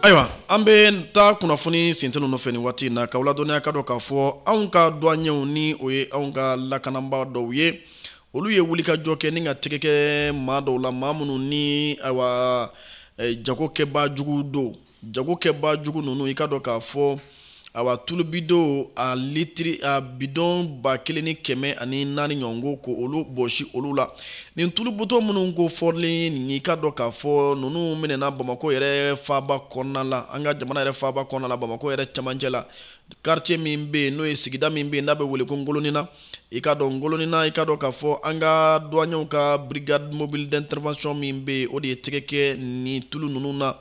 ayiwa an bɛ taa kunnafoni sintɛ ninnu fɛ nin waati in na k'aw ladɔnniya k'a dɔn k'a fɔ anw ka duwaɲɛw ni o ye anw ka lakanabaa dɔw ye olu ye wulikajɔ kɛ ni ka tɛgɛ kɛ maa dɔw la maa minnu ni ayiwa eh, jagokɛbaa jugu don jagokɛbaa jugu ninnu i k'a dɔn k'a fɔ awa tulu bidɔnw a litiri a bidɔn ba kelen ni kɛmɛ ani naani ɲɔgɔn k'olu bɔsi olu la nin tulu bidɔn minnu kofɔlen ye nin ye i k'a dɔn k'a fɔ ninnu minɛna bamakɔ yɛrɛ faaba kɔnɔna la an ka jamana yɛrɛ faaba kɔnɔna la bamakɔ yɛrɛ cɛmancɛ la quartier min bɛ yen n'o ye sigida min bɛ yen n'a bɛ wele ko ngolonina i k'a dɔn ngolonina i k'a dɔn k'a fɔ an ka duwaɲɛw ka brigade mobile d'intervention min bɛ yen o de ye tɛgɛ kɛ nin tulu ninnu na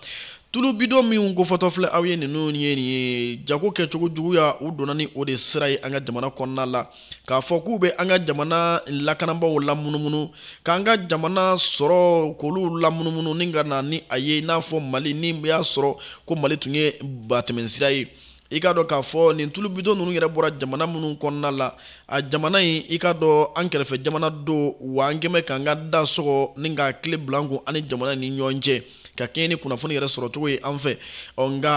tulu bidɔn minw kofɔtɔ filɛ aw ye ninnu ye nin ye jago kɛcogo juguya u donna ni o de sira ye an ka jamana kɔnɔna la k'a fɔ k'u bɛ an ka jamana lakanabaaw lamunumunu k'an ka jamana sɔrɔ k'olu lamunumunu ni ka na ni a ye i n'a fɔ mali ni y'a sɔrɔ ko mali tun ye batɛmɛsira ye i k'a dɔn k'a fɔ nin tulu bidɔn ninnu yɛrɛ bɔra jamana minnu kɔnɔna la a jamana in i k'a dɔn an kɛrɛfɛ jamana don wa an kɛmɛ k'an ka da sɔgɔ ni k'a kile bila an kun an ni jamana nin ɲɔgɔn cɛ ka kɛɲɛ ni kunnafoni yɛrɛ sɔrɔcogo ye an fɛ ɔ nka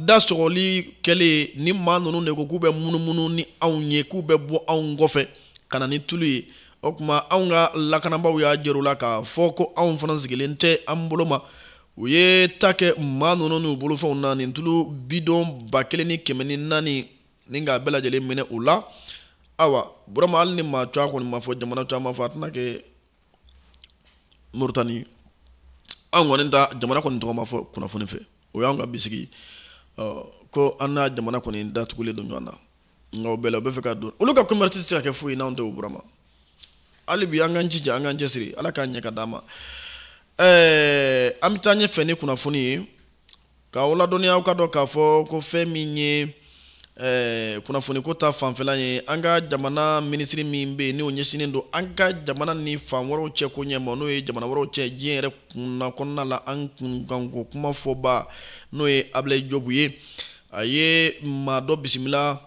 da sɔgɔli kɛlen nin maa ninnu de ko k'u bɛ munumunu ni anw ye k'u bɛ bɔ anw kɔfɛ ka na ni tulu ye o tuma anw ka lakanabaaw y'a jir'u la k'a fɔ ko anw fana sigilen tɛ an bolo ma u ye tɛgɛ kɛ maa ninnu n'u bolofɛnw na nin tulu bidɔn ba kelen ni kɛmɛ ni naani ni k'a bɛɛ lajɛlen minɛ u la awa burama hali ni maa cɔ a kɔni ma fɔ jamana cɔ ma fɔ a tɛna kɛ moritani an kɔni ta jamana kɔni tɔgɔ ma fɔ kunnafoni fɛ o y'an ka bisigi ko an n'a jamana kɔni da tugulen don ɲɔgɔn na nka o bɛɛ la u b'a fɛ ka don olu ka commerce tɛ se ka kɛ foyi n'anw tɛ o burama hali bi an k'an jija an k'an cɛsiri ala k'an ɲɛ ka d'an ma ɛɛ an bɛ taa ɲɛfɛ ni kunnafoni ye k'aw ladɔnniya aw k'a dɔn k'a fɔ ko fɛn min ye ɛɛ kunnafoniko ta fanfɛla ye an ka jamana minisiri min bɛ yen n'o ɲɛsinnen don an ka jamana ni fan wɛrɛw cɛ ko ɲɛ ma n'o ye jamana wɛrɛw cɛ diɲɛ yɛrɛ kunna kɔnɔna la an kunkanko kumafɔbaa n'o ye abilayi jɔpu ye a ye maa dɔ bisimila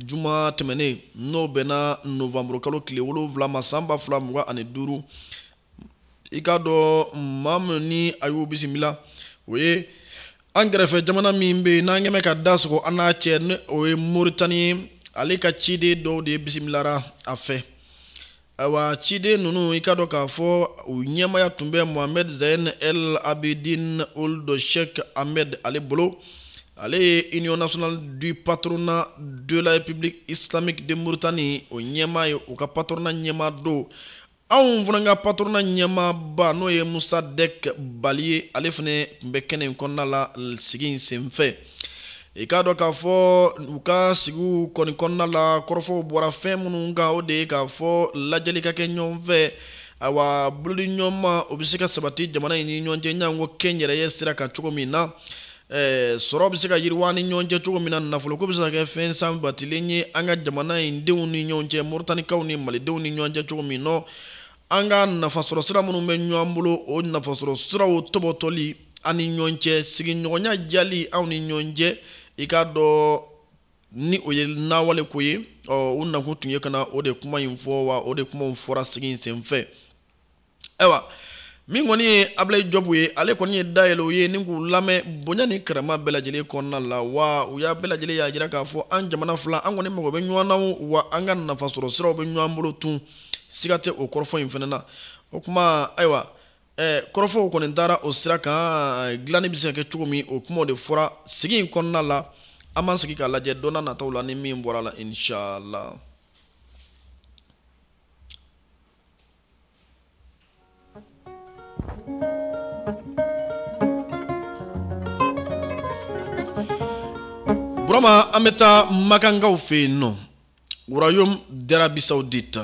juma tɛmɛnen n'o bɛnna novanburu kalo tile wolonwula ma san ba fila mugan ani duuru i k'a dɔn maa min ni a y'o bisimila o ye an kɛrɛfɛ jamana min bɛ yen n'an kɛmɛ ka da sɔgɔ an n'a cɛ ni o ye moritani ye ale ka ciden dɔw de bisimilara a fɛ ayiwa ciden ninnu i k'a dɔn k'a fɔ u ɲɛmaya tun bɛ mohamed zain el abidin ould cheikh ahmed ale bolo ale ye union nationale du patronat de la république islamique de mauritanie o ɲɛma ye u ka patrona ɲɛma don anw fana ka patrona ɲɛmaba n'o ye mossadeck bally ye ale fana tun bɛ kɛnɛ in kɔnɔna la sigi in senfɛ i k'a dɔn k'a fɔ u ka sigiw kɔni kɔnɔna la kɔrɔfɔw bɔra fɛn minnu kan o de ye k'a fɔ lajɛli ka kɛ ɲɔgɔn fɛ awa bolodiɲɔgɔnma o bɛ se ka sabati jamana in ni ɲɔgɔn cɛ janko kɛnyɛrɛye sira kan cogo min na eh, sɔrɔ bɛ se ka yiriwa ni ɲɔgɔn cɛ cogo min na nafoloko bɛ se ka kɛ fɛn sabatilen ye an ka jamana in denw ni ɲɔgɔn cɛ moritanikaw ni malidenw ni ɲɔgɔn cɛ cogo min nɔ an ka nafasɔrɔ sira minnu bɛ ɲɔgɔn bolo o nafasɔrɔ siraw tɔbɔtɔli an ni ɲɔgɔn cɛ sigiɲɔgɔnya diyali anw ni ɲɔgɔn cɛ i k'a dɔn ni o ye nawale ko ye ɔ u nakun tun ye ka na o de kuma in fɔ wa o de kumaw fɔra sigi in senfɛ ayiwa min kɔni ye abilayi jɔbu ye ale kɔni ye da yɛlɛ u ye ni k'u lamɛn bonya ni karama bɛɛ lajɛlen kɔnɔna la wa u y'a bɛɛ lajɛlen y'a jira k'a fɔ an jamana fila an kɔni mago bɛ ɲɔgɔn na wa an ka nafasɔrɔ siraw bɛ ɲɔgɔn bolo tun siga tɛ o kɔrɔfɔ in fana na o kuma ayiwa ɛɛ kɔrɔfɔw kɔni dara o sira kan dilanni bɛ se ka kɛ cogo min o kumaw de fɔra sigi in kɔnɔna la an b'an sigi k'a lajɛ don na nataw la ni min bɔra a la inshallah burama an bɛ taa makankaw fɛ yen nɔ royaume d'arabie saoudite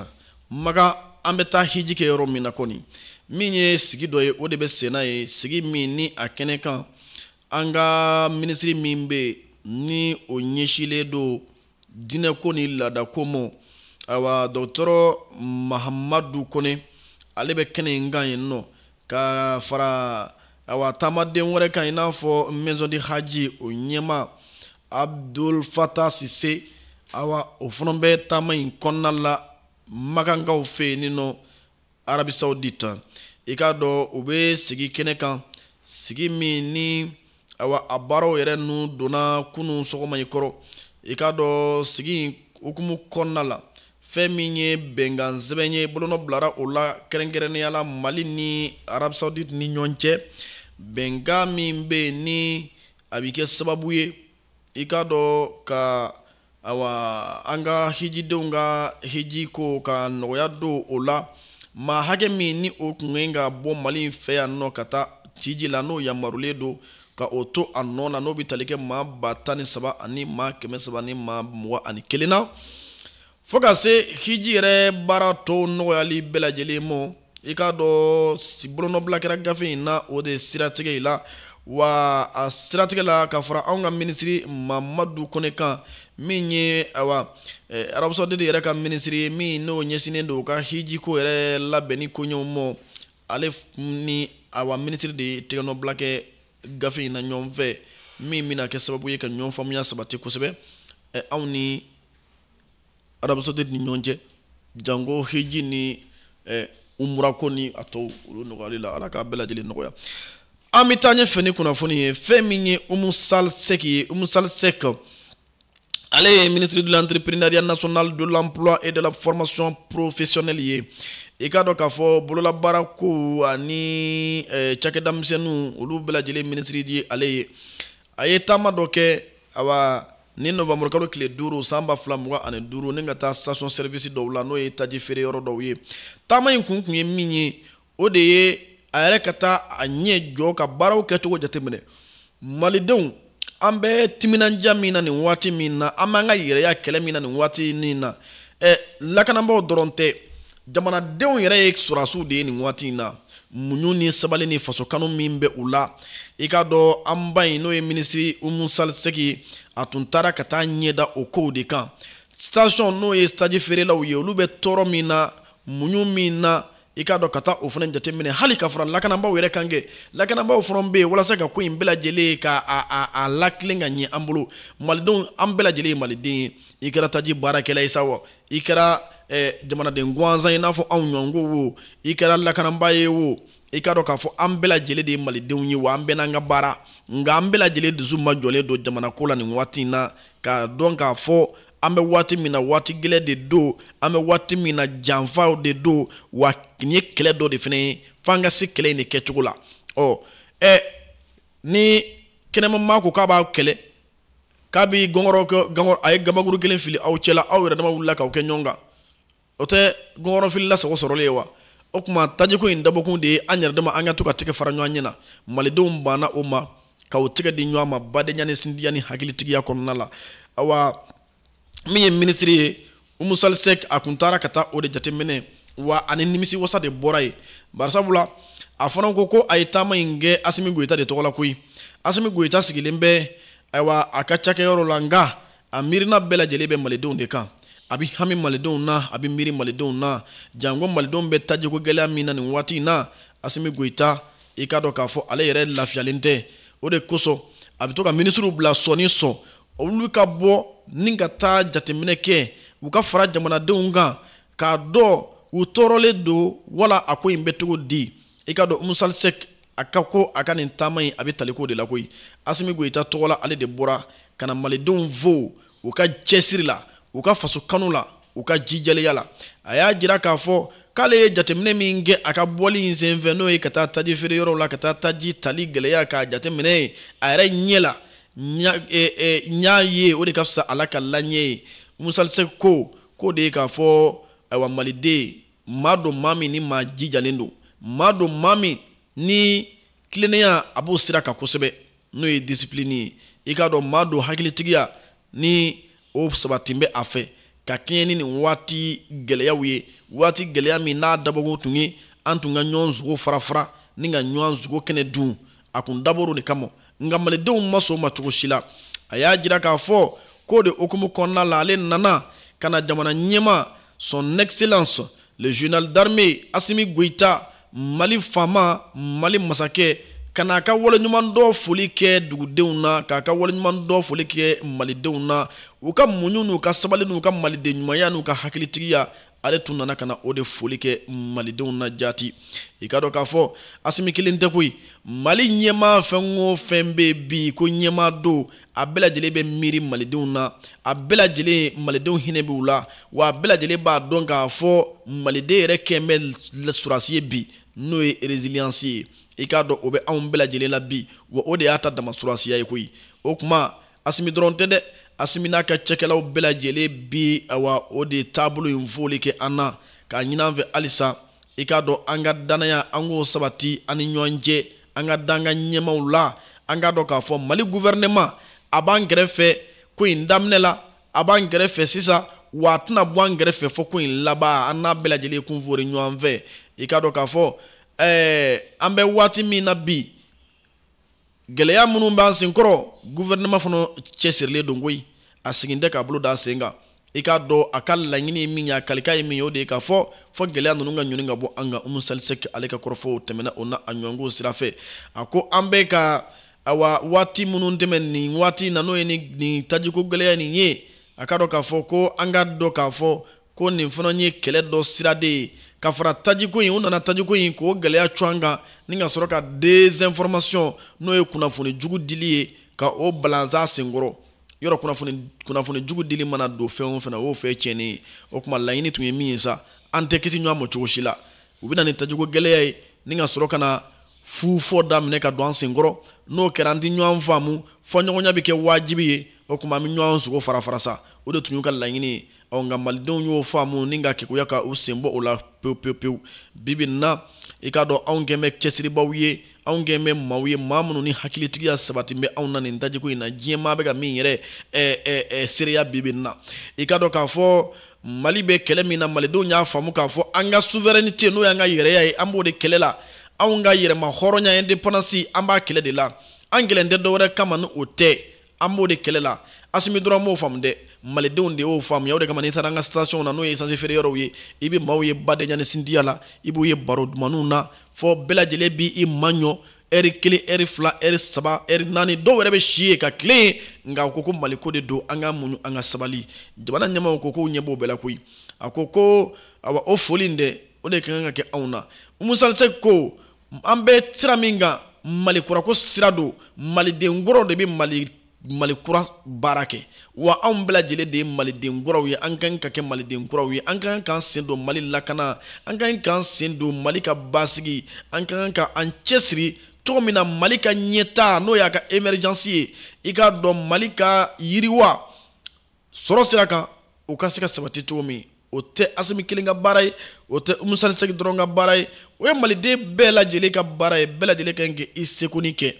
makan an bɛ taa hiji kɛ yɔrɔ min na kɔni min ye sigi dɔ ye o de bɛ senna yen sigi min ni a kɛnɛ kan an ka minisiri min bɛ yen ni o ɲɛsilen don diinɛko ni laadako ma ayiwa dɔgɔtɔrɔ mahamadu kone ale bɛ kɛnɛ in kan yen nɔ ka fara awa taamaden wɛrɛ kan i n'a fɔ maison du hadj o ɲɛma abdul fata sise awa o fana bɛ taama in kɔnɔna la makankaw fɛ yen ni nɔ arabie saoudite i k'a dɔn u bɛ sigi kɛnɛ kan sigi min ni awa a baaraw yɛrɛ nun donna kunun sɔgɔma in kɔrɔ i k'a dɔn sigi hukumu kɔnɔna la fɛn min ye bɛnkan sɛbɛn ye bolonɔ bilara o la kɛrɛnkɛrɛnnenya la mali ni arabie saoudite ni ɲɔgɔn cɛ bɛnkan min bɛ yen ni a bɛ kɛ sababu ye i k'a dɔ ka awa an ka hijidenw ka hiji ko ka nɔgɔya don o la maa hakɛ min ni o kun kan ka bɔ mali in fɛ yan nɔ ka taa hiji la n'o yamarulen don ka o to a nɔ na n'o bɛ tali kɛ maa ba tan ni saba ani maa kɛmɛ saba ni maa mugan ani kelen na fo ka se hiji yɛrɛ baara tɔw nɔgɔyali bɛɛ lajɛlen ma i k'a dɔn bolonɔbila kɛra gafe in na o de siratigɛ i la wa a siratigɛ la ka fara anw ka minisiri mamadu kone kan min ye awa eh, arabie saoudite yɛrɛ ka minisiri ye min n'o ɲɛsinnen don ka hijiko yɛrɛ labɛnni koɲɛw mɔ ale ni awa minisiri de ye tɛgɛnɔbila kɛ gafe in na ɲɔgɔn fɛ min bɛna kɛ sababu ye ka ɲɔgɔn faamuya sabati kosɛbɛ eh, anw ni arabie saoudite ni ɲɔgɔn cɛ jango hiji ni eh, umurako ni a tɔw olu nɔgɔyali la ala k'a bɛɛ lajɛlen nɔgɔya an bɛ taa ɲɛfɛ ni kunnafoni ye fɛn min ye umu sali sɛki ye umu sali sɛki ale ye ministre de l'entrepreneuriat national de l'emploi et de la formation professionnelle ye i k'a dɔn k'a fɔ bololabaara kow ani eh, cakɛda misɛnninw olu bɛɛ lajɛlen minisiri ye ale ye a ye taama dɔ kɛ awa nin novembre kalo tile duuru san ba fila mugan ani duuru nin ka taa station service dɔw la n'o ye taji feere yɔrɔ dɔw ye taama in kun kun ye min ye o de ye a yɛrɛ ka taa a ɲɛ jɔ ka baaraw kɛcogo jateminɛ malidenw an bɛ timinandiya min na nin waati nin na an b'an ka yɛrɛya kɛlɛ min na nin waati nin na ɛ lakanabaaw dɔrɔn tɛ jamanadenw yɛrɛ ye sɔrɔdasiw de ye nin waati in na muɲu ni sabali ni faso kanu min bɛ u la i k'a dɔn an ba in n'o ye minisiri umu sali sɛki a tun taara ka taa ɲɛ da o kow de kan station n'o ye taji feerelaw ye olu bɛ tɔɔrɔ min na muɲu min na i k'a dɔn ka taa o fana jateminɛ hali ka fara lakanabaaw yɛrɛ kan kɛ lakanabaaw fana bɛ yen walasa ka ko in bɛɛ lajɛlen ka a latilen ka ɲɛ an bolo malidenw an bɛɛ lajɛlen ye maliden ye i kɛra taji baarakɛla ye sa wa i kɛra eh, jamanaden gansan i n'a fɔ anw ɲɔgɔnw wo i kɛra lakanabaa ye wo i k'a dɔn k'a fɔ an bɛɛ lajɛlen de ye malidenw ye wa an bɛɛ n'an ka baara nka an bɛɛ lajɛlen dusu ma jɔlen don jamanako la nin waati in na k'a dɔn k'a fɔ an bɛ waati min na waati gɛlɛn de don an bɛ waati min na janfaw de don wa nin ye kɛlɛ dɔ de fana ye f'an ka se kɛlɛ in de kɛcogo la ɔ ɛ ni kɛnɛma maa ko k'a b'aw kɛlɛ k'a bi gɔngɔrɔ gɔngɔrɔ a ye gabakurun kelen fili aw cɛla aw yɛrɛ dama wulila k'aw kɛ ɲɔgɔn kan o tɛ gɔngɔrɔ filila sago sɔrɔlen ye wa o tuma tajiko in dabɔkun de ye an yɛrɛ dama an ka to ka tɛgɛ fara ɲɔgɔn ɲɛ na malidenw banna o ma ka u tɛgɛ di ɲɔgɔn ma badenya ni sinjiya ni hakilitigiya kɔnɔna la awa min ye minisiri ye umu sali sɛk a tun taara ka taa o de jateminɛ wa a ni nimisiwasa de bɔra yen bari sabula a fana ko ko a ye taama in kɛ asimi goyita de tɔgɔ la koyi asimi goyita sigilen bɛ ayiwa a ka cakɛyɔrɔ la nka a miirina bɛɛ lajɛlen bɛ malidenw de kan a bɛ hami malidenw na a bɛ miiri malidenw na janko malidenw bɛ tajiko gɛlɛya min na nin waati in na asimi goyita i k'a dɔn k'a fɔ ale yɛrɛ lafiyalen tɛ o de kosɔn a bɛ to ka minisiriw bila sɔɔni sɔɔn olu ka bɔ ni ka taa jateminɛ kɛ u ka fara jamanadenw kan k'a dɔn u tɔɔrɔlen don wala a ko in bɛ cogo di i k'a dɔn umu sali sɛk a ka ko a ka nin taama in a bɛ taliko de la koyi asimi goyita tɔgɔ la ale de bɔra ka na malidenw fo u ka cɛsiri la u ka faso kanu la u ka jijalenya la a y'a jira k'a fɔ k'ale ye jateminɛ min kɛ a ka bɔli in senfɛ n'o ye ka taa taji feere yɔrɔw la ka taa taji tali gɛlɛya k'a jateminɛ ye a yɛrɛ ɲɛ la n y'a e, e, ye o de ka fisa a lakala n ye ye umu sali sɛk ko k'o de ye k'a fɔ ayiwa maliden maa don maa min ni maa jijalen don maa don maa min ni tilennenya a b'o sira kan kosɛbɛ n'o ye disipilini ye i k'a dɔn maa don hakilitigiya ni o sabati bɛ a fɛ ka kɛɲɛ ni nin waati gɛlɛyaw ye waati gɛlɛya min n'a dabɔkun tun ye an tun ka ɲɔgɔn sogo farafara ni ka ɲɔgɔn sogo kɛnɛ dun a tun dabɔra o de kama nka malidenw ma sɔn o ma cogo si la a y'a jira k'a fɔ k'o de hukumu kɔnɔna la ale nana ka na jamana ɲɛmaa son excellence le général d'armée asimi goyita mali faama mali masakɛ ka n'a ka waleɲumandɔn foli kɛ dugudenw na k'a ka waleɲumandɔn foli kɛ malidenw na u ka muɲu n'u ka sabali n'u ka maliden ɲumanya n'u ka hakilitigiya ale tun nana ka na o de foli kɛ malidenw na jaati i k'a dɔn k'a fɔ asimi kelen tɛ koyi mali ɲɛmaa fɛn o fɛn bɛ bi ko ɲɛmaa don a bɛɛ lajɛlen bɛ miiri malidenw na a bɛɛ lajɛlen malidenw hinɛ b'u la wa a bɛɛ lajɛlen b'a dɔn k'a fɔ maliden yɛrɛ kɛlen bɛ sɔrɔdasi ye bi n'o ye ereziliyansi ye i k'a dɔn o bɛ anw bɛɛ lajɛlen la bi wa o de y'an ta dama sɔrɔdasiya ye koyi o tuma asimi dɔrɔn tɛ dɛ asimi n'a ka cakɛlaw bɛɛ lajɛlen bi awa o de taabolo in foli kɛ an na k'a ɲini an fɛ halisa i k'a dɔn an ka dannaya an k'o sabati an ni ɲɔgɔn cɛ an ka da an ka ɲɛmaaw la an k'a dɔn k'a fɔ mali guvɛrɛnɛman a b'an kɛrɛfɛ ko in daminɛ la a b'an kɛrɛfɛ sisan wa a tɛna bɔ an kɛrɛfɛ fo ko in laban an n'a bɛɛ lajɛlen kun foori ɲɔgɔn fɛ i k'a dɔn k'a fɔ ɛɛ an bɛ waati min na bi gɛlɛya minnu b'an senkɔrɔ guvɛrɛnɛma fana cɛsirilen don koyi a sigin tɛ k'a bolo da sen kan i k'a dɔn a ka laɲini ye min ye a kalikan ye min ye o de ye k'a fɔ fɔ gɛlɛya ninnu ka ɲɔni ka bɔ an kan umu salisɛki ale ka kɔrɔfɔw tɛmɛna o na a ɲɔnko sira fɛ a ko an bɛ ka awa waati minnu tɛmɛ nin waati na n'o ye nin tajiko gɛlɛya nin ye a ka dɔn k'a fɔ ko an ka dɔn k'a fɔ ko nin fana ye kɛlɛ dɔ siraden ye ka fara tajiko in u nana tajiko in k'o gɛlɛya cun an kan ni ka sɔrɔ ka desinformation n'o ye kunnafoni jugu dili ye ka o balan an senkɔrɔ yɔrɔ kunnafoni kunnafoni jugu dili mana don fɛn o fɛn na o y'o fɛn tiɲɛni ye o tuma laɲini tun ye min ye sa an tɛ kisi ɲɔgɔn ma cogo si la u bɛna ni tajiko gɛlɛya ye ni ka sɔrɔ ka na fu fɔ daminɛ ka don an senkɔrɔ n'o kɛra an tɛ ɲɔgɔn faamu fɔɲɔgɔnya bɛ kɛ wajibi ye o tuma an bɛ ɲɔgɔn sogo fara fara sa o de tun y'u ka laɲini ye ɔ nka malidenw y'o faamu ni ka kekuya ka u senbɔ o la pewu pewu pewu bibi na i k'a dɔn anw kɛn bɛ cɛsiribaaw ye anw kɛn bɛ maaw ye maa minnu ni hakilitigiya sabati bɛ anw na nin tajiko in na diɲɛ maa bɛ ka min yɛrɛ eh, eh, eh, seereya bibi na i k'a dɔn k'a fɔ mali bɛ kɛlɛ min na malidenw y'a faamu k'a fɔ an ka suverɛnite n'o y'an ka yɛrɛya ye an b'o de kɛlɛ la anw ka yɛrɛma hɔrɔnya independance an b'a kɛlɛ de la an kɛlɛlen tɛ dɔwɛrɛ kama ni o tɛ an b'o de kɛlɛ la asimi dɔrɔn m'o faamu dɛ malidenw de y'o faamuya o de kama n'i taara an ka station na n'o ye esansi feere yɔrɔw ye i bɛ maaw ye badenya ni sinjiya la i b'u ye baro dumanniw na fɔ bɛɛ lajɛlen b'i maɲɔ ɛri kelen ɛri fila ɛri saba ɛri naani dɔw yɛrɛ bɛ si yen ka tilen yen nka u ko ko maliko de don an ka muɲu an ka sabali jamana ɲɛmaaw ko k'u ɲɛ b'o bɛɛ la koyi a ko ko awa o foli in dɛ o de ka kan ka kɛ anw na umu salisɛki ko an bɛ sira min kan mali kurako sira don maliden kuraw de bɛ mali mali kura baara kɛ wa anw bɛɛ lajɛlen de ye maliden kuraw ye an ka ɲi ka kɛ maliden kuraw ye an ka kan k'an sen don mali lakana an ka kan k'an sen don mali ka basigi an ka kan ka an cɛsiri cogo min na mali ka ɲɛtaa n'o y'a ka emergence ye i k'a dɔn mali ka yiriwa sɔrɔ sira kan o ka se ka sabati cogo min o tɛ asimi kelen ka baara ye o tɛ umu salisɛki dɔrɔn ka baara ye o ye maliden bɛɛ lajɛlen ka baara ye bɛɛ lajɛlen ka ɲi ka i sekoni kɛ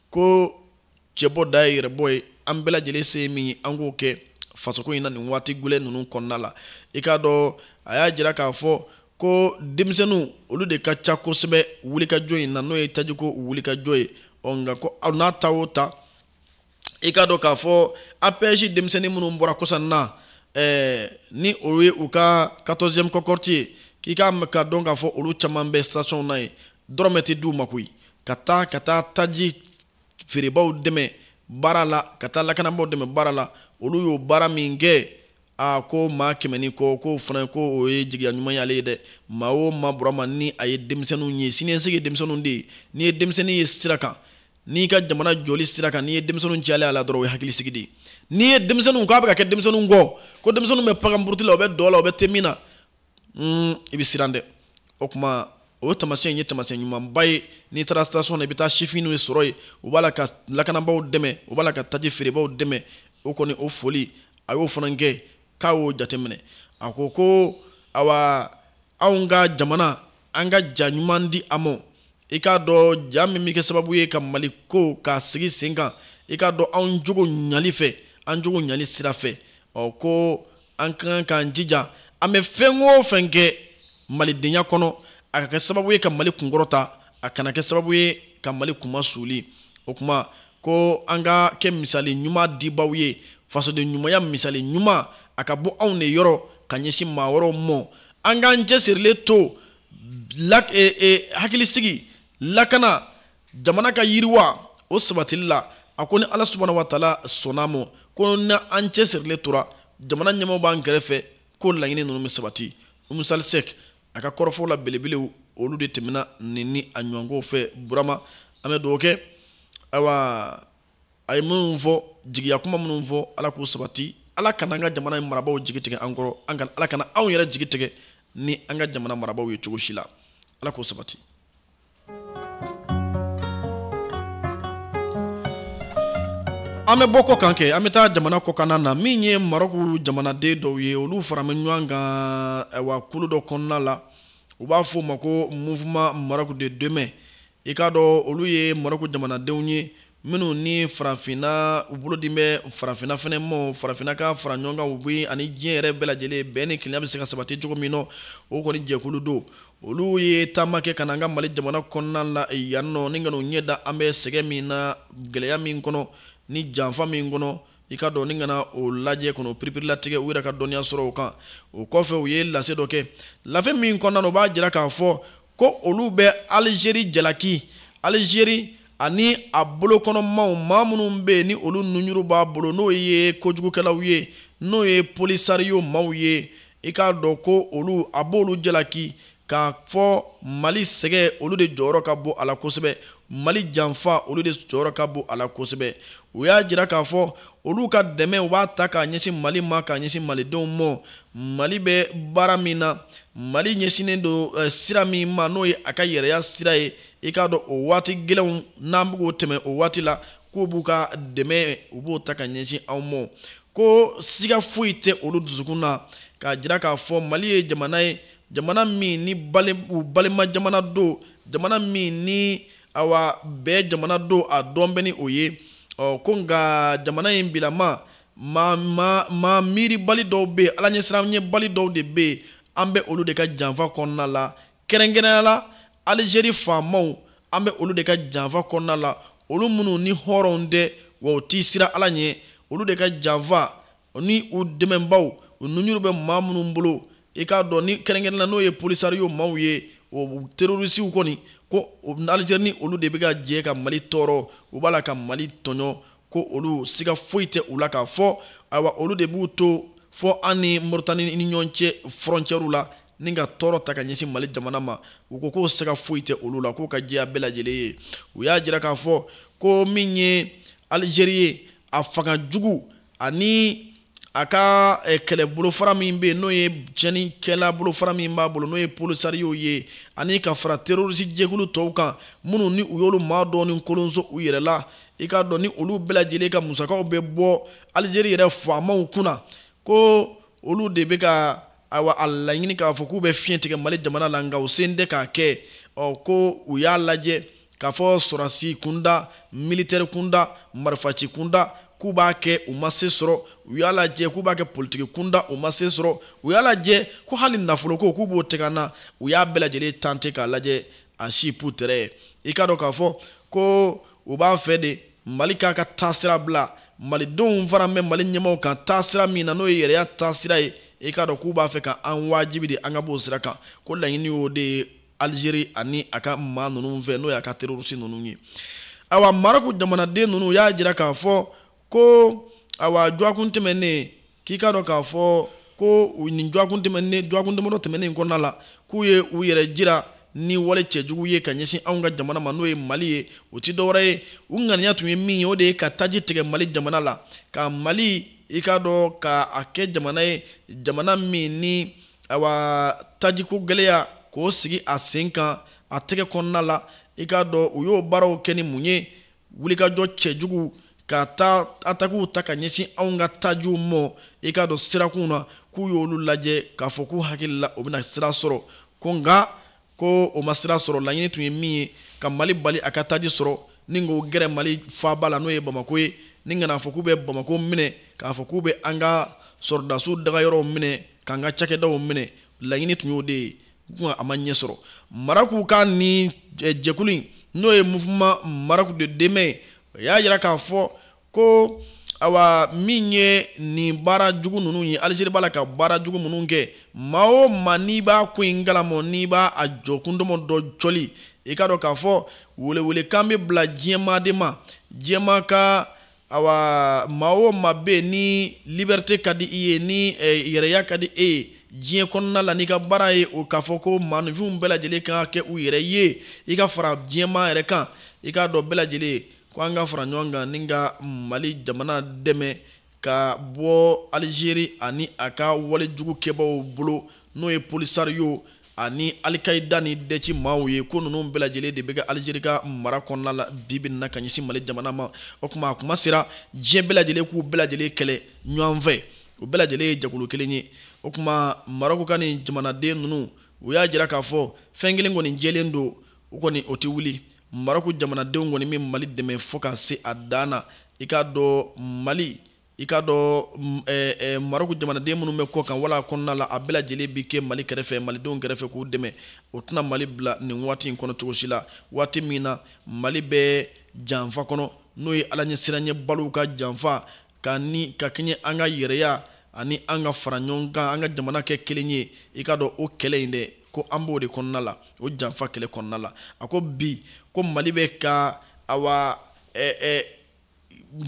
ko cɛbɔ dan ye yɛrɛbɔ ye an bɛɛ lajɛlen se ye min ye an k'o kɛ fasoko in na nin waati gɛlɛn ninnu kɔnɔna la i k'a dɔn a y'a jira k'a fɔ ko denmisɛnninw olu de ka ca kosɛbɛ wulikajɔ in na n'o ye tajiko wulikajɔ ye ɔ nka ko o n'a ta o ta i k'a dɔn k'a fɔ apɛji denmisɛnnin minnu bɔra kɔsa in na eh, ni o ye u ka 14e cohorte ye k'i ka ka dɔn k'a fɔ olu caman bɛ station na yen dɔrɔmɛ tɛ d'u ma koyi ka taa ka taa taji feerebaaw dɛmɛ baara la ka taa lakanabaaw dɛmɛ baara la olu y'o baara min kɛ a ko maa kɛmɛ ni kɔ k'o fana ko o ye jigiya ɲuman y'ale ye dɛ maa o maa burama ni a ye denmisɛnninw ye siniɲɛsigi ye denmisɛnninw de ye n'i ye denmisɛnnin ye sira kan n'i ka jamana jɔli sira kan n'i ye denmisɛnninw cayalen a la dɔrɔn o ye hakilisigi de ye n'i ye denmisɛnninw k'a bɛ ka kɛ denmisɛnninw kɔ ko denmisɛnninw bɛ paganburuti la u bɛ dɔ la u bɛ te min na hmm, i bɛ siran dɛ o tuma o tamasiyɛn in ye tamasiyɛn ɲumanba ye n'i taara station na i bɛ taa sifinw de sɔrɔ yen u b'a la ka lakanabaaw dɛmɛ u b'a la ka taji feerebaaw dɛmɛ o kɔni o foli a y'o fana kɛ k'a y'o jateminɛ a ko ko awa anw ka jamana an ka ja ɲuman di a ma i k'a dɔn ja min bɛ kɛ sababu ye ka maliko k'a sigi sen kan i k'a dɔn anw jogo ɲali fɛ an jogo ɲali sira fɛ ɔ ko an ka kan k'an jija an bɛ fɛn o fɛn kɛ malidenya kɔnɔ a ka kɛ sababu ye ka mali kunkɔrɔta a kana kɛ sababu ye ka mali kunma suuli o tuma ko an ka kɛ misali ɲuman dibaaw ye fasoden ɲumanya misali ɲuman a ka bɔ anw de yɔrɔ ka ɲɛsin maa wɛrɛw mɔ an k'an cɛsirilen to e, e, hakili sigi lakana jamana ka yiriwa o sabatili la a ko ni ala subahana wataala sɔnna a ma ko n'an cɛsirilen tora jamana ɲɛmaa b'an kɛrɛfɛ ko laɲini ninnu bɛ sabati umu sali sɛk a ka kɔrɔfɔw la belebelew olu de tɛmɛna nin ni a ɲɔgɔnkow fɛ burama an bɛ dugawu kɛ ayiwa a ye minnu fɔ jigiya kuma minnu fɔ ala k'u sabati ala kana an ka jamana in marabaaw jigi tigɛ an kɔrɔ an kana ala kana anw yɛrɛ jigi tigɛ ni an ka jamana marabaaw ye cogo si la ala k'o sabati an bɛ bɔ kɔ kan kɛ an bɛ taa jamana kɔkanna na min ye marɔku jamanaden dɔw ye olu faralen bɛ ɲɔgɔn kan wa kulu dɔ kɔnɔna la u b'a fɔ o ma ko mouvement maroc de demain i k'a dɔn olu ye marɔku jamanadenw ye minnu ni farafinna u bolo dilen bɛ farafinna fana ma farafinna ka fara ɲɔgɔn kan u bɛ ani diɲɛ yɛrɛ bɛɛ lajɛlen bɛn ni kelenya bɛ se ka sabati cogo min na o kɔni jɛkulu don olu ye taama kɛ ka na an ka mali jamana kɔnɔna la yan nɔ ni ka n'u ɲɛ da an bɛ sɛgɛ min na gɛlɛya min kɔnɔ ni janfa min kɔnɔ i k'a dɔn ni ka na o lajɛ kɔnɔ piripirilatigɛ u yɛrɛ ka dɔnniya sɔrɔ o kan o kɔfɛ u ye lase dɔ kɛ lase min kɔnɔna u b'a jira k'a fɔ ko olu bɛ alizeri jalaki alizeri ani a bolokɔnɔmaw maa minnu bɛ yen ni olu nunjuru b'a bolo n'o ye kojugukɛlaw ye n'o ye polisariyo maaw ye i k'a dɔn ko olu a b'olu jalaki k'a fɔ mali sɛgɛ olu de jɔyɔrɔ ka bon a la kosɛbɛ mali janfa olu de jɔyɔrɔ ka bon a la kosɛbɛ u y'a jira k'a fɔ olu ka dɛmɛ u b'a ta k'a ɲɛsin mali ma k'a ɲɛsin malidenw ma mali bɛ baara min na mali ɲɛsinnen don eh, sira min ma n'o ye a ka yɛrɛya sira ye i k'a dɔn o waati gɛlɛnw n'an bɛ k'o tɛmɛ o waati la k'u b'u ka dɛmɛ u b'o ta ka ɲɛsin anw ma ko siga foyi tɛ olu dusukun na k'a jira k'a fɔ mali ye jamana ye jamana min ni u balima jamana don jamana min ni awa bɛɛ jamana don a dɔn bɛ ni o ye ɔ ko nka jamana in bilama maa maa maa miiribali dɔw bɛ yen ala ɲɛsiranɲɛbali dɔw de bɛ yen an bɛ olu de ka janfa kɔnɔna la kɛrɛnkɛrɛnya la alizeri faamaw an bɛ olu de ka janfa kɔnɔna la olu minnu ni hɔrɔnw tɛ wa u ti siran ala ɲɛ olu de ka janfa ni u dɛmɛnbaw u nunjuru bɛ maa minnu bolo i k'a dɔn ni kɛrɛnkɛrɛn na n'o ye polisario maaw ye o terorisiw kɔni ko alizeri ni olu de bɛ ka jɛ ka mali tɔɔrɔ u b'a la ka mali tɔɲɔ ko olu siga foyi tɛ u la k'a fɔ ayiwa olu de b'u to fo an ni moritani ni ɲɔgɔn cɛ fɔrɔncɛriw la ni ka tɔɔrɔ ta ka ɲɛsin mali jamana ma u ko k'o siga foyi tɛ olu la k'o ka jɛya bɛɛ lajɛlen ye u y'a jira k'a fɔ ko min ye alizeri ye a fanga jugu ani a ka eh, kɛlɛbolofara min bɛ yen n'o ye tiɲɛnikɛla bolofara min b'a bolo n'o ye polisariyow ye ani ka fara terorisi jɛkulu tɔw kan minnu ni u y'olu maa dɔɔni kolonso u yɛrɛ la i k'a dɔn ni olu bɛɛ lajɛlen ka musakaw bɛ bɔ alizeri yɛrɛ faamaw kunna ko olu de bɛ ka ayiwa a laɲini k'a fɔ k'u bɛ fiɲɛ tigɛ mali jamana la nka u sen tɛ k'a kɛ ɔ ko u y'a lajɛ k'a fɔ sɔrasi kunda militɛri kunda marifaci kunda k'u b'a kɛ u ma se sɔrɔ u y'a lajɛ k'u b'a kɛ politiki kunda u ma se sɔrɔ u y'a lajɛ ko hali nafoloko k'u b'o tigɛ an na u y'a bɛɛ lajɛlen tante k'a lajɛ a si pu tɛrɛ ye i k'a dɔn k'a fɔ ko u b'a fɛ de mali k'a ka taasira bila malidenw fana bɛ mali ɲɛmaaw kan taasira min na n'o ye yɛrɛya taasira ye i k'a dɔn k'u b'a fɛ ka an wajibi de an ka b'o sira kan ko laɲini y'o de ye alizeri ani a ka maa ninnu fɛ n'o y'a ka terorisi ninnu ye awa marɔku jamanaden ninnu y'a jira k'a fɔ ko awa jɔakun tɛmɛnnen k'i k'a dɔn k'a fɔ ko nin jɔakun tɛmɛnnen jɔakun damadɔ tɛmɛnnen kɔnɔna la k'u ye u yɛrɛ jira ni wale cɛjugu ye ka ɲɛsin anw ka jamana ma n'o ye mali ye o ti dɔwɛrɛ ye u ŋaniya tun ye min ye o de ye ka taji tigɛ mali jamana la ka mali i k'a dɔn ka a kɛ jamana ye jamana min ni ayiwa tajiko gɛlɛya k'o sigi a sen kan a tɛgɛ kɔnɔna la i k'a dɔn u y'o baaraw kɛ ni mun ye wulikajɔ cɛjugu ka taa atakiw ta ka ɲɛsin anw ka tajiw ma i k'a dɔn sirakunw na k'u y'olu lajɛ k'a fɔ k'u hakili la o bɛna sira sɔrɔ ko nka ko o ma sira sɔrɔ laɲini tun ye min ye ka mali bali a ka taji sɔrɔ ni k'o gɛrɛ mali faaba la n'o ye bamako ye ni n kan'a fɔ k'u bɛ bamako minɛ k'a fɔ k'u bɛ an ka sɔrɔdasiw dagayɔrɔw minɛ k'an ka cakɛdaw minɛ laɲini tun y'o de ye ko a ma ɲɛ sɔrɔ marɔku ka nin jɛkulu in n'o ye mouvement maroc de demain ye o y'a jira k'a fɔ ko awa min ye nin baara jugu ninnu ye alizeri b'a la ka baara jugu minnu kɛ maa o maa n'i b'a ko in kalama n'i b'a a jɔkun dɔn dɔ jɔli i k'a dɔn k'a fɔ welewelekan bɛ bila diɲɛmaa de ma diɲɛmaa ka awa maa o maa bɛ yen ni liberite ka di i ye ni eh, yɛrɛya ka di e ye diɲɛ kɔnɔna la n'i ka baara ye o k'a fɔ ko maaninfinw bɛɛ lajɛlen ka kɛ u yɛrɛ ye i ka fara diɲɛmaa yɛrɛ kan i k'a dɔn bɛɛ lajɛlen ko an ka fara ɲɔgɔn kan ni ka mali jamana dɛmɛ ka bɔ alizeri ani a ka wale jugu kɛbaaw bolo n'o ye polisariyo ani alikayida ni dɛci maaw ye ko ninnu bɛɛ lajɛlen de bɛ kɛ alizeri ka mara kɔnɔna la bi bɛ na ka ɲɛsin mali jamana ma o tuma a tuma sera diɲɛ bɛɛ lajɛlen k'u bɛɛ lajɛlen kɛlɛ ɲɔgɔn fɛ u bɛɛ lajɛlen ye jɛkulu kelen ye o tuma marɔku ka nin jamanaden ninnu u y'a jira k'a fɔ fɛn kelen kɔni jɛlen don u kɔni o tɛ wuli marɔku jamanadenw kɔni bɛ mali dɛmɛ fo ka se a dan na i k'a dɔn mali i k'a dɔn eh, eh, marɔku jamanaden minnu bɛ kɔkan wala kɔnɔna la a bɛɛ lajɛlen bɛ kɛ mali kɛrɛfɛ malidenw kɛrɛfɛ k'u dɛmɛ u tɛna mali bila nin waati in kɔnɔ cogo si la waati min na mali bɛ janfa kɔnɔ n'o ye ala ɲɛsiranɲɛbaliw ka janfa ka ni ka kɛɲɛ an ka yɛrɛya ani an ka fara ɲɔgɔn kan an ka jamana kɛ kelen ye i k'a dɔn o kɛlɛ in dɛ ko an b'o de kɔnɔna la o janfa kɛlɛ kɔnɔna la a ko bi ko mali bɛ ka awa eh, eh,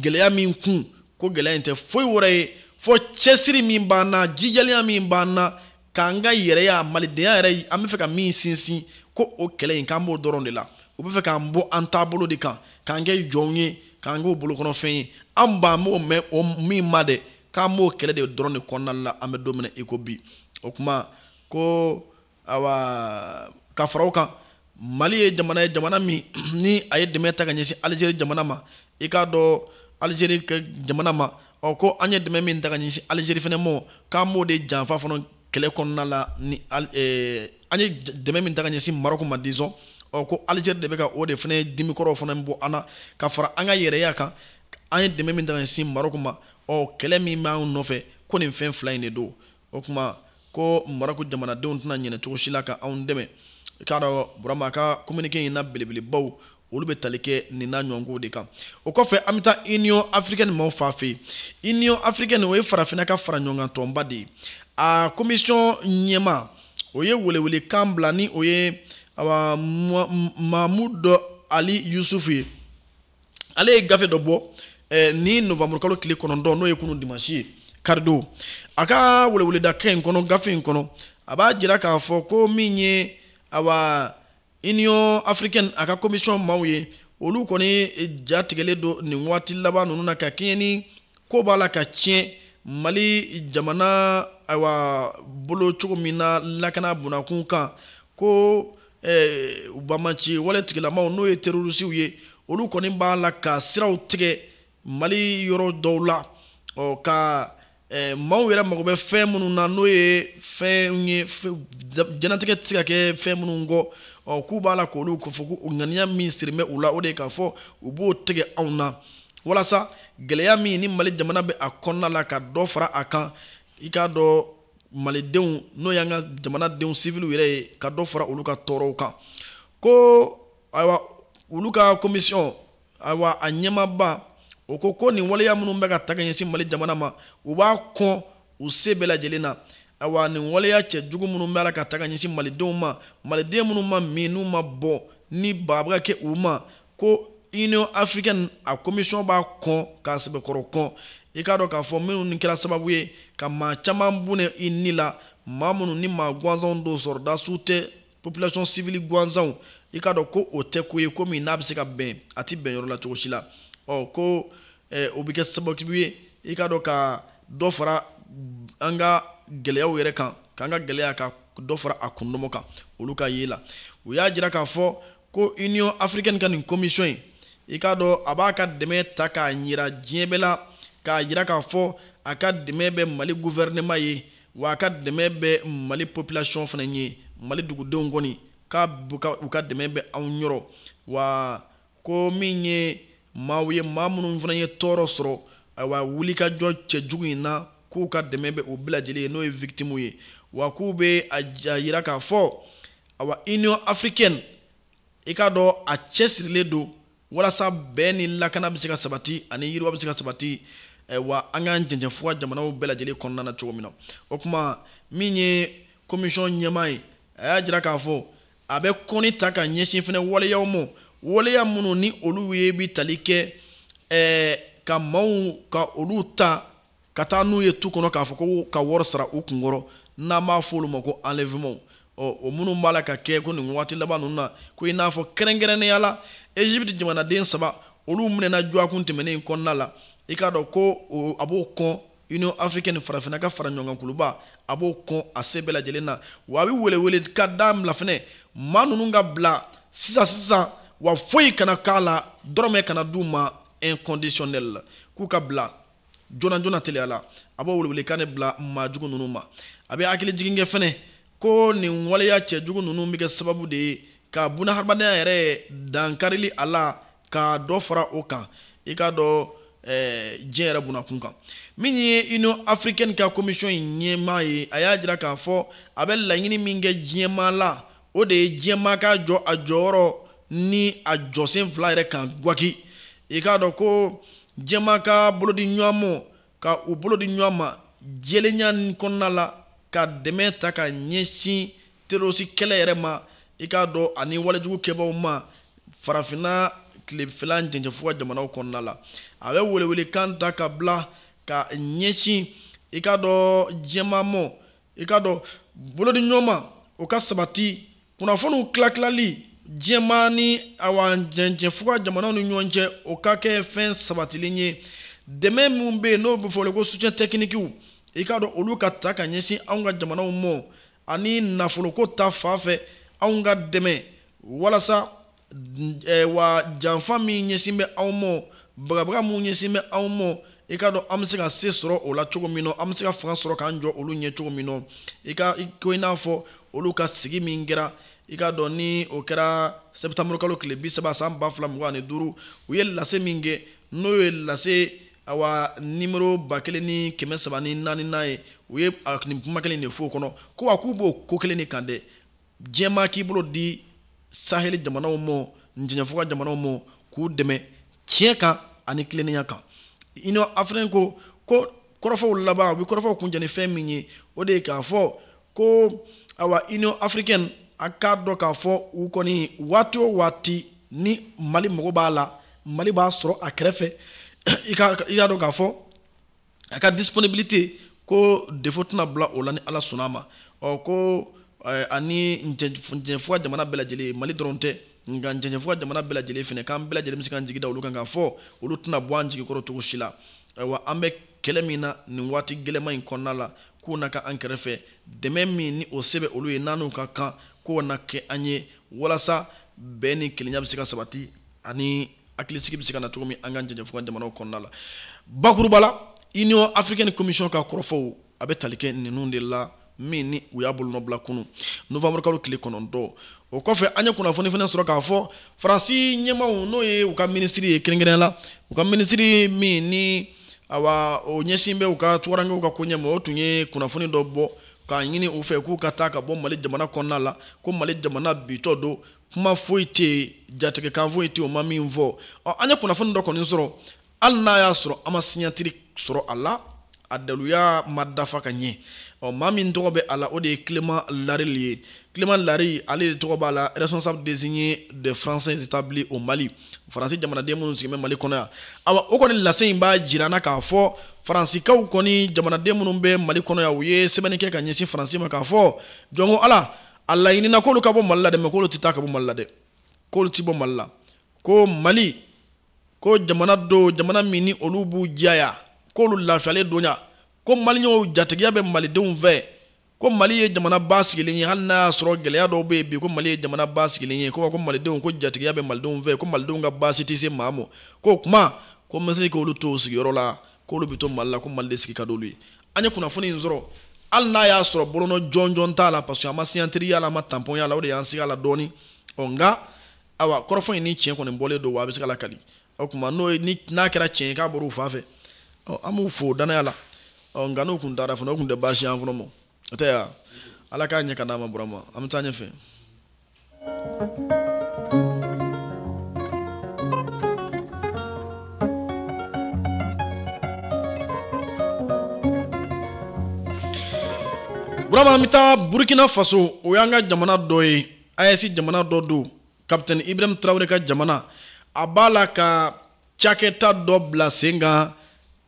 gɛlɛya min kun ko gɛlɛya in tɛ foyi wɛrɛ ye fo cɛsiri min b'an na jijalenya min b'an na k'an ka yɛrɛya malidenya yɛrɛ an bɛ fɛ ka min sinsin ko o kɛlɛ in k'an b'o dɔrɔn de la u bɛ fɛ k'an bɔ an taabolo de kan k'an kɛ jɔnw ye k'an k'u bolokɔnɔfɛn ye an b'an b'o mɛn o min ma dɛ k'an b'o kɛlɛ de dɔrɔn de kɔnɔna la an bɛ don min na i ko bi o tuma ko awa ka fara o kan mali ye jamana ye jamana min ni a ye dɛmɛ ta ka ɲɛsin alizeri jamana ma i k'a dɔn alizeri ka jamana ma ɔ ko an ye dɛmɛ min ta ka ɲɛsin alizeri fana ma k'an b'o de janfa fana kɛlɛ kɔnɔna la ni eh, an ye dɛmɛ min ta ka ɲɛsin marɔku ma disons ɔ ko alizeri de bɛ ka o de fana dimikɔrɔ fana bɔ an na ka fara an ka yɛrɛya kan an ye dɛmɛ min ta ka ɲɛsin marɔku ma ɔ kɛlɛ min b'an nɔfɛ ko nin fɛn fila in de don o tuma ko marɔku jamanadenw tɛna ɲinɛ cogo si la ka anw dɛmɛ i k'a dɔn burama ka communiqué in na belebelebaw olu bɛ tali kɛ nin n'a ɲɔgɔnkow de kan o kɔfɛ an bɛ taa union africaine maaw fan fɛ yen union africaine o ye farafinna ka fara ɲɔgɔn kan tɔnba de ye a commission ɲɛmaa o ye welewelekan bila ni o ye awa mamudu ali yusufu ye ale ye gafe dɔ bɔ eh, ni novembre kalo tile kɔnɔntɔn n'o ye kunu dimansi ye karidon a ka weleweledakan in kɔnɔ gafe in kɔnɔ a b'a jira k'a fɔ ko min ye awa union africaine a ka commission maaw ye olu kɔni eh, ja tigɛlen don nin waati laban ninnu na ka kɛɲɛ ni ko b'a la ka tiɲɛ mali jamana ayiwa bolo cogo min na lakana bonda kun kan ko eh, u bamaci wale tigilamaw n'o ye terorisiw ye olu kɔni b'a la ka siraw tigɛ mali yɔrɔ dɔw la ɔ ka eh, maaw yɛrɛ mago bɛ fɛn minnu na n'o ye fɛn ye diɲɛnatigɛ tɛ se ka kɛ fɛn minnu kɔ ɔ k'u b'a la k'olu k'a fɔ ko ŋaniya min sirilen bɛ u la o de ye k'a fɔ u b'o tigɛ anw na walasa gɛlɛya min ni mali jamana bɛ a kɔnɔna la ka dɔ fara a kan i k'a dɔn malidenw n'o y'an ka jamanadenw siviliw yɛrɛ ye ka dɔ fara olu ka tɔɔrɔw kan ko ayiwa olu ka komisiyɔn ayiwa a ɲɛmaaba o ko ko nin waleya minnu bɛ ka ta ka ɲɛsin mali jamana ma u b'a kɔn u se bɛɛ lajɛlen na ayiwa nin waleya cɛjugu minnu b'a la ka ta ka ɲɛsin malidenw ma maliden minnu ma min n'u ma bɔn ni baa bɛ ka kɛ u ma ko union africaine a commission b'a kɔn k'a sɛbɛkɔrɔ kɔn i k'a dɔn k'a fɔ minnu ni kɛra sababu ye ka maa caman bɔnɛ i ni la maa minnu ni maa gansanw don sɔrɔdasiw tɛ population civile gansanw i k'a dɔn ko o tɛ ko ye ko min n'a bɛ se ka bɛn a tɛ bɛn yɔrɔ la cogo si la ɔ ko eh, o bɛ kɛ sababu ye i k'a dɔn ka dɔ fara an ka gɛlɛyaw yɛrɛ kan k'an ka gɛlɛya ka dɔ fara a kundɔmɔ kan olu ka ye la u y'a jira k'a fɔ ko union africaine ka nin commission in i k'a dɔn a b'a ka dɛmɛ ta k'a ɲira diɲɛ bɛɛ la k'a jira k'a fɔ a ka dɛmɛ bɛ mali guvɛrɛnɛma ye wa a ka dɛmɛ bɛ mali population fana ye mali dugudenw kɔni k'u ka dɛmɛ bɛ anw yɔrɔ wa ko min ye maaw ye maa minnu fana ye tɔɔrɔ sɔrɔ ayiwa wulikajɔ cɛjugu in na k'u ka dɛmɛ bɛ u bɛɛ lajɛlen ye n'o ye victimu ye wa k'u bɛ a jira k'a fɔ awa union africaine i k'a dɔn a cɛsirilen don walasa bɛn ni lakana bɛ se ka sabati ani yiriwa bɛ se ka sabati eh, wa an ka cɛncɛnfuga jamanaw bɛɛ lajɛlen kɔnɔna na cogo min na o tuma min ye komisiyɔn ɲɛmaa ye a y'a jira k'a fɔ a bɛ kɔnni ta ka ɲɛsin fana waleyaw ma waleya minnu ni olu ye bi tali kɛ eh, ka maaw ka olu ta ka taa n'u ye tu kɔnɔ k'a fɔ ko ka wɔri sara u kun kɔrɔ n'an b'a fɔ olu ma ko enlèvement ɔ o minnu b'a la ka kɛ ko nin waati laban ninnu na ko i n'a fɔ kɛrɛnkɛrɛnnenya la egypte jamanaden saba olu minɛna dɔgɔkun tɛmɛnen in kɔnɔna la i k'a dɔn ko a b'o kɔn union africaine farafinna ka fara ɲɔgɔn kan kuluba a b'o kɔn a se bɛɛ lajɛlen na wa a bɛ welewelekan de bila fɛnɛ maa ninnu ka bila sisan sisan wa foyi kana k'a la dɔrɔmɛ kana d'u ma inconditionnel k'u ka bila joona joona teliya la a b'o welewelekan de bila maa jugu ninnu ma a bɛ hakili jigin kɛ fɛnɛ ko nin waleya cɛjugu ninnu bɛ kɛ sababu de ye ka bunahadamadenya yɛrɛ dankarili a la ka dɔ fara o kan i k'a dɔn eh, diɲɛ yɛrɛ bunakun kan min ye union africaine ka commission in ɲɛmaa ye a y'a jira k'a fɔ a bɛ laɲini min kɛ diɲɛmaa la o de ye diɲɛmaa ka jɔ a jɔyɔrɔ ni a jɔsen fila yɛrɛ kan gwaki i k'a dɔn ko diɲɛmaa ka bolo di ɲɔgɔn mɔ ka u bolo di ɲɔgɔn ma jɛlenya kɔnɔna la ka dɛmɛ ta ka ɲɛsin terorisi kɛlɛ yɛrɛ ma i k'a dɔn ani walejugu kɛbaaw ma farafinna tilefɛla cɛncɛnfuga jamanaw kɔnɔna la a bɛ welewelekan ta ka bila ka ɲɛsin i k'a dɔn diɲɛmaa mɔ i k'a dɔn bolodiɲɔgɔnma o ka sabati kunnafoniw tilatilali diɲɛmaa ni awa cɛncɛnfuga jamanaw ni ɲɔgɔn cɛ o ka kɛ fɛn sabatilen ye dɛmɛ minnu bɛ yen n'o bɛ fɔ ko soutien techniquew i k'a dɔn olu ka ta ka ɲɛsin anw ka jamanaw mɔ ani nafoloko ta fan fɛ anw ka dɛmɛ walasa eh, wa janfa min ɲɛsin bɛ anw mɔ bagabaga min ɲɛsin bɛ anw mɔ i k'a dɔn an bɛ se ka se sɔrɔ o la cogo min na an bɛ se ka fanga sɔrɔ k'an jɔ olu ɲɛ cogo min na i ko i n'a fɔ olu ka sigi min kɛra i k'a dɔn ni o kɛra sɛtanburu kalo tile bi saba san ba fila mugan ani duuru u ye lase min kɛ n'o ye lase awa nimero ba kelen ni kɛmɛ saba ni naaninan ye u ye nin kuma kelen de fɔ o kɔnɔ ko wa k'u b'o ko kelen de kan dɛ diɲɛmaa k'i bolo di saheli jamanaw ma cɛncɛnfuga jamanaw ma k'u dɛmɛ tiɲɛ kan ani tilennenya kan union africaine ko ko kɔrɔfɔw laban u bɛ kɔrɔfɔw kuncɛ ni fɛn min ye o de ye k'a fɔ ko awa union africaine a k'a dɔn k'a fɔ u kɔni waati o waati ni mali mago b'a la mali b'a sɔrɔ a kɛrɛfɛ i k'a dɔn k'a fɔ a ka disponibilité ko défaut tɛna bila o la ni ala sɔnna a ma ɔ ko eh, ani cɛncɛnfuga jamana bɛɛ lajɛlen mali dɔrɔn tɛ nka cɛncɛnfuga jamana bɛɛ lajɛlen fɛnɛ k'an bɛɛ lajɛlen bɛ se k'an jigi da olu kan k'a fɔ olu tɛna bɔ an jigi kɔrɔ cogo si la ayiwa an bɛ kɛlɛ min na nin waati gɛlɛman in kɔnɔna la k'u na kɛ an kɛrɛfɛ dɛmɛ min ni o se bɛ olu ye n'an n'u ka kan k'o na kɛ an ye walasa bɛn ni kelenya bɛ se ka sabati ani hakilisigi bɛ se ka na cogo min an ka jɛjɛfo ka jamanaw kɔnɔna la bakuruba la union africaine commission ka kɔrɔfɔw a bɛ tali kɛ ninnu de la min ni u y'a bolonɔbila kunu novembre kalo tile kɔnɔntɔn o kɔfɛ an ye kunnafoni fana sɔrɔ k'a fɔ faransi ɲɛmaaw n'o ye u ka minisiri ye kɛrɛnkɛrɛn la u ka minisiri min ni awa o ɲɛsin bɛ u ka tungarankew ka koɲɛ ma o tun ye kunnafoni dɔ bɔ k'a ɲini u fɛ k'u ka taa ka bɔ mali jamana kɔnɔna la ko mali jamana bintɔ don kuma foyi tɛ yen jatigɛkan foyi tɛ yen o ma min fɔ ɔ an ye kunnafoni dɔ kɔni sɔrɔ hali n'a y'a sɔrɔ an ma siɲatiri sɔrɔ a la a daluya ma dafa ka ɲɛ ɔ maa min tɔgɔ bɛ a la o de ye clément larili ye clément lari ale de tɔgɔ b'a la responsable désigné des français établis au mali faransi jamanaden minnu sigilen bɛ mali kɔnɔ yan awa o kɔni lase in b'a jira an na k'a fɔ faransikaw kɔni jamanaden minnu bɛ mali kɔnɔ yan u ye sɛbɛnni kɛ ka ɲɛsin faransi ma k'a fɔ jɔn ko ala a laɲinina k'olu ka bɔ mali la dɛ mɛ k'olu tɛ taa ka bɔ mali la dɛ k'olu tɛ bɔ mali la ko mali ko jamana don jamana min ni olu b'u jaya k'olu lafiyalen don yan ko maliyɛnw jatigiya bɛ malidenw fɛ ko mali ye jamana ba sigilen ye hali n'a y'a sɔrɔ gɛlɛya dɔw bɛ yen bi ko mali ye jamana ba sigilen ye ko ko malidenw ko jatigiya bɛ malidenw fɛ ko malidenw ka baasi tɛ se maa ma k'o kama ko n bɛ se k'olu to sigiyɔrɔ la k'olu bɛ to mali la ko mali de sigi ka d'olu ye an ye kunnafoni in sɔrɔ hali n'a y'a sɔrɔ bolonɔ jɔnjɔn t'a la parce que an ma siɲatiri y'a la an ma tanpɔn y'a la o de y'an sigi a la dɔɔni ɔ nka awa kɔrɔfɔ in ni tiɲɛ kɔni bɔlen don wa a bɛ se ka lakali o tuma n'o ye ni n'a kɛra tiɲɛ ye k'a bɔra u fan fɛ ɔ an b'u fo danaya la ɔ nka n'u kun taara fana o kun tɛ baasi y'an kɔnɔ mɔ o tɛ yan ala k'a ɲɛ ka d'an ma burama an bɛ taa ɲɛfɛ Burama an bɛ taa Burkina Faso o y'an ka jamana dɔ ye AES jamana dɔ don capitaine Ibrahim Traore ka jamana a b'a la ka cakɛda dɔ bila sen kan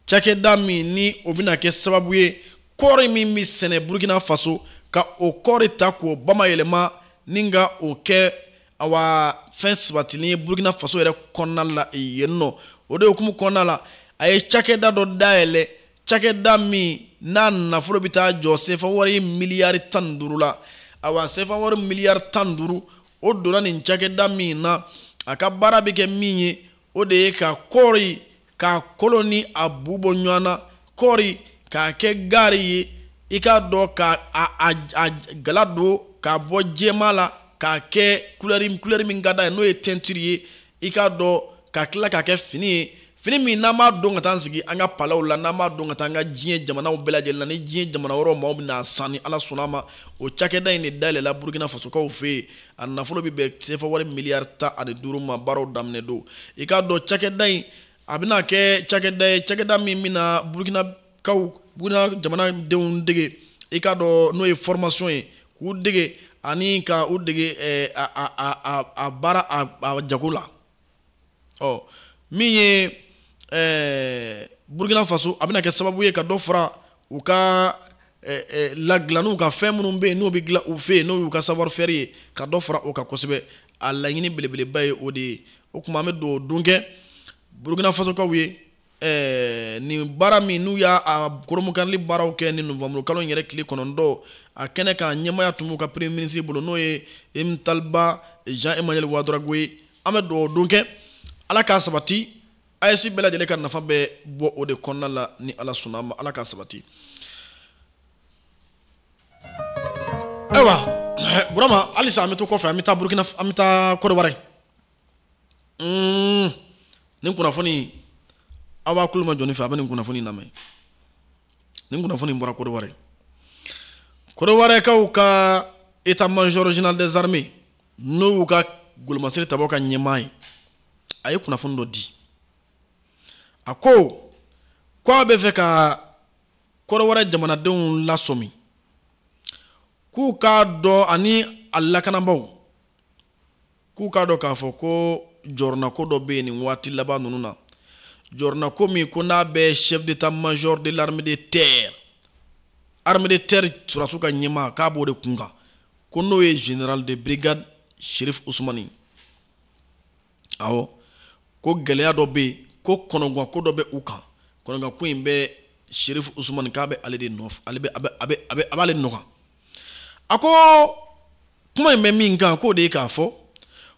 cakɛda min ni o bɛna kɛ sababu ye kɔɔri min bɛ sɛnɛ burkina faso ka o kɔɔri ta k'o bamayɛlɛma ni ka o kɛ awa fɛn sabatilen ye burkina faso yɛrɛ kɔnɔna la yen ɔ o de hukumu kɔnɔna la a ye cakɛda dɔ dayɛlɛ cakɛda min n'a nafolo bɛ taa jɔ sefa wari miliyari tan ni duuru la awa sefa wari miliyari tan ni duuru o donna nin cakɛda min na a ka baara bɛ kɛ min ye o de ye ka kɔɔri k'a kolo ni a bu bɔ ɲɔgɔn na kɔɔri k'a kɛ gaari ye i k'a dɔn k'a a a gala don k'a bɔ jɛma la k'a kɛ kulɛri kulɛri min ka d'a ye n'o ye tɛntiri ye i k'a dɔn ka tila k'a kɛ fini ye fini min n'an b'a don ka taa sigi an ka palaw la n'an b'a don ka taa an ka diɲɛ jamanaw bɛɛ lajɛlen na ni diɲɛ jamana wɛrɛ maaw bɛna a san ni ala sɔnna ma o cakɛda in de dayɛlɛla burukina fasokaw fɛ yen a nafolo bɛ bɛn sefa wari miliyari tan ani duuru ma baaraw daminɛ don i k'a dɔn cakɛda in a bɛna kɛ cakɛda ye cakɛda min bɛna burukinakaw burukina jamanadenw dege i k'a dɔn n'o ye fɔrɔmasɔn ye k'u dege ani ka u dege eh, a baara a jago la ɔ min ye ɛɛ burukina faso a bɛna kɛ sababu ye ka dɔ fara u ka ɛɛ eh, ladilanniw eh, ka fɛn minnu bɛ yen n'o bɛ dilan u fɛ yen n'o y'u ka savoir faire ye ka dɔ fara o kan kosɛbɛ a laɲini belebeleba ye o de ye o tuma an bɛ dugawu don kɛ burukina fasokaw ye ɛɛ nin baara min n'u y'a a kurunbonkarili baaraw kɛ ni novanburu kalo in yɛrɛ tile kɔnɔntɔn a kɛnɛ ka ɲɛmaaya tun b'u ka premier ministre bolo n'o ye rimtalba jean emmanuel ouédraogo ye an bɛ dugawu don kɛ ala k'a sabati aes bɛɛ lajɛlen ka nafa bɛ bɔ o de kɔnɔna la ni ala sɔnna a ma ala k'a sabati ayiwa burama halisa an bɛ to kɔfɛ an bɛ taa burukina an bɛ taa kodowari mm, nin kunnafoni aw b'a kulomajɔ ne fɛ a bɛ nin kunnafoni lamɛn nin kunnafoni bɔra kodowari kodowarikaw ka état major général des armées n'o y'u ka golomasiri tabɔ ka ɲɛmaa ye a ye kunnafoni dɔ di a ko ko a bɛ fɛ ka kodowari jamanadenw lasɔmi k'u k'a dɔn ani a lakanabaaw k'u k'a dɔn k'a fɔ ko jɔrɔnako dɔ bɛ yen nin waati laban ninnu na jɔrɔnako min ko n'a bɛ chef d'état major de l'armée de terre armée de terre sɔrɔdasiw ka ɲɛmaa k'a b'o de kun kan ko n'o ye général de brigade sherif usumani awɔ ko gɛlɛya dɔ bɛ yen ko kɔnɔgwanko dɔ bɛ u kan kɔnɔgwanko in bɛ sherif usumani k'a bɛ ale de nɔfɛ ale bɛ a bɛ a bɛ a bɛ a b'ale nɔ kan a ko kuma in bɛ min kan k'o de ye k'a fɔ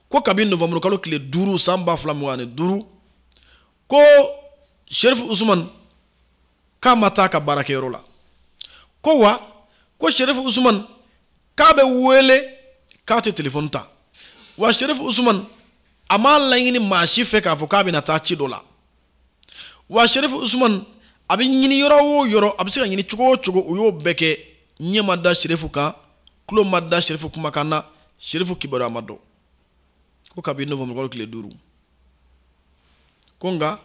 ko kabi novembre kalo tile duuru san ba fila mugan ani duuru ko sherifu usumani k'a ma taa a ka baarakɛyɔrɔ la ko wa ko sherifu usumani k'a bɛ wele k'a tɛ telefɔni ta wa sherifu usumani a m'a laɲini maa si fɛ k'a fɔ k'a bɛna taa ci dɔ la wa sherifu usman a bɛ ɲini yɔrɔ o yɔrɔ a bɛ se ka ɲini cogo o cogo u y'o bɛɛ kɛ ɲɛ ma da sherifu kan tulo ma da sherifu kumakan na sherifu kibaruya ma dɔn ko kabini novembre kalo tile duuru ko nka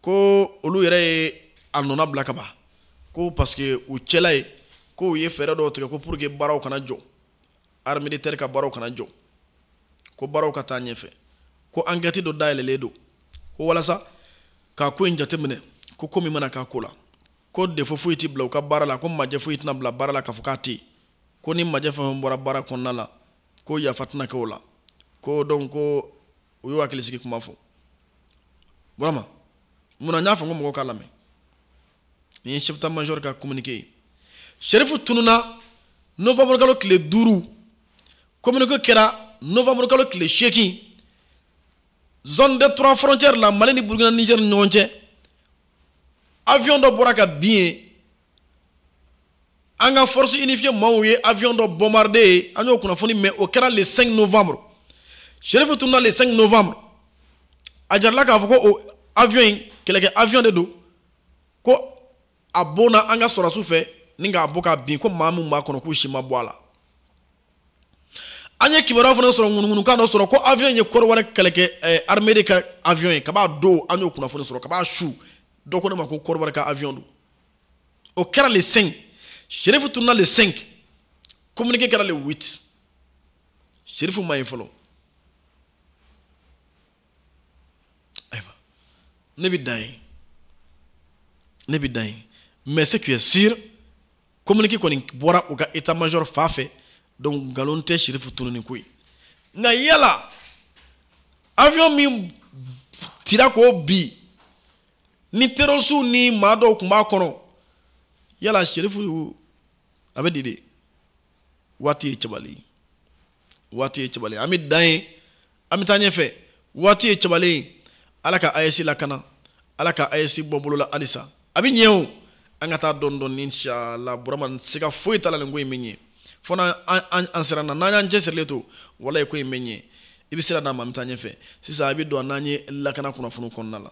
ko olu yɛrɛ ye a nɔnabila ka ban ko parce que u cɛla ye ko u ye fɛɛrɛ dɔw tigɛ ko pour que baaraw kana jɔ armée de terre ka baaraw kana jɔ ko baaraw ka taa ɲɛfɛ ko ankɛti dɔ dayɛlɛlen don ko walasa ka ko in jateminɛ ko ko min mana k'a ko la ko defo foyi tɛ bila u ka baara la ko majɛ foyi tɛna bila baara la k'a fɔ k'a tɛ yen ko ni majɛ fɛn fɛn bɔra baara kɔnɔna la ko yafa tɛna kɛ o la ko dɔn ko u y'u hakilisigi kuma fɔ burama mun na n y'a fɔ n ko mɔgɔw k'a lamɛn nin ye chef major ka communiqué ye sherifu tununa novembre kalo tile duuru communiqué kɛra novembre kalo tile seegin zone des trois frontières la mali ni burkina niger ni ɲɔgɔn cɛ avion dɔ bɔra ka bin yen an ka force unifiée maaw ye avion dɔ bombardé yen an y'o kunnafoni mɛn o kɛra le 5 novembre sherifu tununa le 5 novembre a jirala k'a fɔ ko o avion in kɛlɛkɛ avion de don ko a bonna an ka sɔrɔdasiw fɛ ni k'a bɔ ka bin ko maa min b'a kɔnɔ k'u si ma bɔ a la an ye kibaruya fana sɔrɔ ŋunuŋunukan dɔ sɔrɔ ko avion ye kɔdiwari kɛlɛkɛ eh, armée de ka avion ye kab'a don an y'o kunnafoni sɔrɔ kab'a su dɔ ko ne ma ko kɔdiwari ka avion don o kɛra le 5 sherifu tununa le 5 communiqué kɛra le 8 sherifu ma ye fɔlɔ ayiwa ne bɛ dan yen ne bɛ dan yen mais ce qui est sûr communiqué kɔni bɔra u ka état major fan fɛ donc nkalon tɛ sherifu tununni ko ye nka yala avion min cira k'o bin ni terorisiw ni maa dɔw tun b'a kɔnɔ yala sherifu a bɛ di de waati ye cɛbali waati ye cɛbali an bɛ dan yen an bɛ taa ɲɛfɛ waati ye cɛbali ye ala ka ayesi lakana ala ka ayesi bɔ bolola halisa a bɛ ɲɛ o an ka taa dɔɔni dɔɔni inshala burama siga foyi t'a la nin ko in bɛ ɲɛ fo n'an an siranna n'an y'an cɛsirilen to walayi ko in bɛ ɲɛ i bɛ sira d'a ma an bɛ taa ɲɛfɛ sisan a bɛ don n'an ye lakana kunnafoni kɔnɔna la